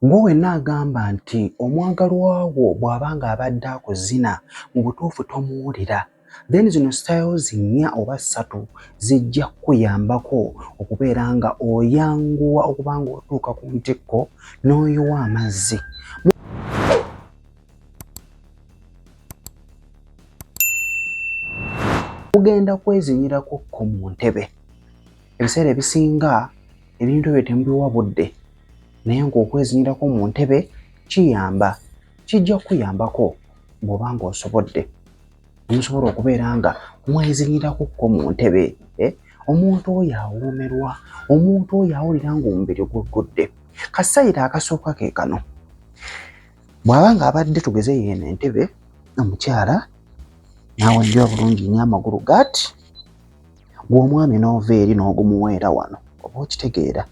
Gwe wenna agamba nti omwagalwa wo bw'aba ng'abadde akuzina mu butuufu tomuwulira, then zino styles nnya oba ssatu zijja kukuyambako okubeera nga oyanguwa okuba ng'otuuka ku ntikko n'oyiwa amazzi. Mugenda kwezinyirako ko mu ntebe. Ebiseera ebisinga ebintu ebyo temubiwa budde. naye ng'okwezinyirako mu ntebe kiyamba kijja kukuyambako bw'oba ng'osobodde omusobola okubeera nga mwezinyirako kko mu ntebe eh? omuntu oyo awoomerwa omuntu oyo awulira ng'omubiri guggudde kasayiro akasooka ke kano bw'aba ng'abadde tugeze yeeno entebe omukyala n'awenja obulungi nnyo amagulu gati gw'omwami n'ova eri n'ogumuweera wano oba okitegeera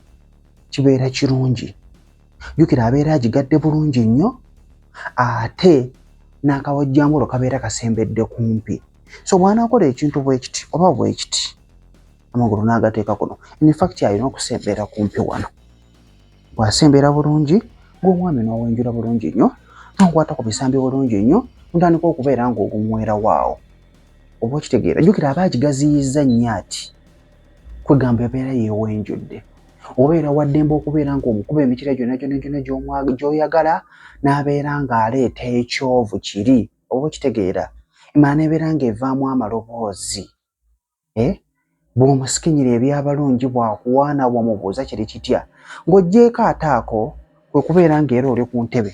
kibeera kirungi jukira abeera agigadde bulungi nnyo ate n'akawajjambulo kabeera kasembedde kumpi so bw'anaakola ekintu bwekiti oba bwekiti amagulu n'agateeka kuno infacti alina okusembera kumpi wano bw'asembera bulungi ng'omwami n'owenjula bulungi nnyo n'okwata ku bisambi bulungi nnyo ntandika okubeera ng'ogumwerawo awo oba okitegeera jukira aba agigaziyizza nnyo ati kwegamba ebeera yewenjudde obeera waddembe okubeera ngaomukuba emikira gyona gyona gyona gyoyagala nabeera ngaaleeta ekyovu kiri oba okitegeera emala nebeera nga evaamu amaloboozi eh? bwomusikinyira ebyabalungi bwakuwaana wamubuuza kiri kitya ngaojeeko ataako kwe kubeera ng'era oli ku ntebe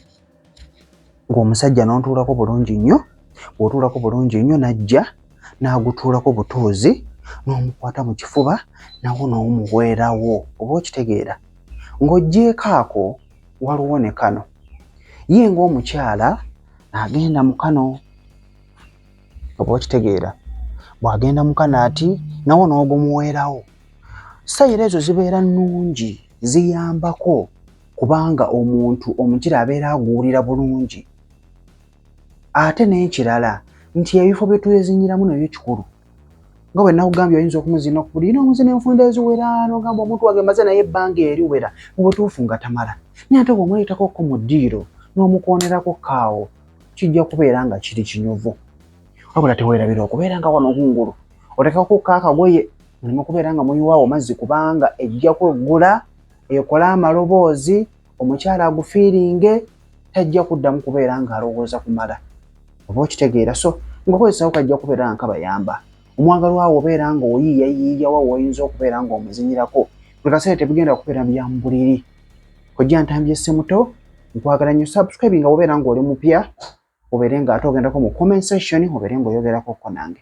ng'omusajja n'ontuulako bulungi nnyo bw'otuulako bulungi nnyo n'ajja n'agutuulako butuuzi n'omukwata mu kifuba nawo n'omuweerawo oba okitegeera ng'oggyeeko ako waliwo ne kano ye ng'omukyala agenda mu kano oba okitegeera bwagenda mukana ati nawo n'ogumuweerawo sayiro ezo zibeera nnungi ziyambako kubanga omuntu omukira abeera aguwulira bulungi ate n'ekirala nti ebifo bye twezinyiramu nabyo kikulu nga bwe nakugambye oyinza okumuzina okubuli ina omuzina enfunda eziwera nogamba omuntu wage maze naye ebbanga eriwera mu butuufu nga tamala naye ate bw'omuleetako ko mu ddiiro n'omukwonerako kaawo kijja kubeera nga kiri kinyuvu wabula tewerabira okubeera nga wano kungulu otekakukko akagoye mulimu kubeera nga muyiwaawo mazzi kubanga ejja kweggula ekole amaloboozi omukyala agufiiringe tajja kuddamu kubeera nga alowooza kumala oba okitegeera so ngaokozesawo kajja kubeera nga kabayamba omwagalwawo obeera nga oyiiyayiiyawa woyinza okubeera nga omuzinyirako buli kaseera tebigenda kubeera byamubuliri kojja ntambye semuto nkwagala nyo subscribe nga obeera nga oli mupya obeere nga ate ogendako mu comment section obeere nga oyogerako ko nange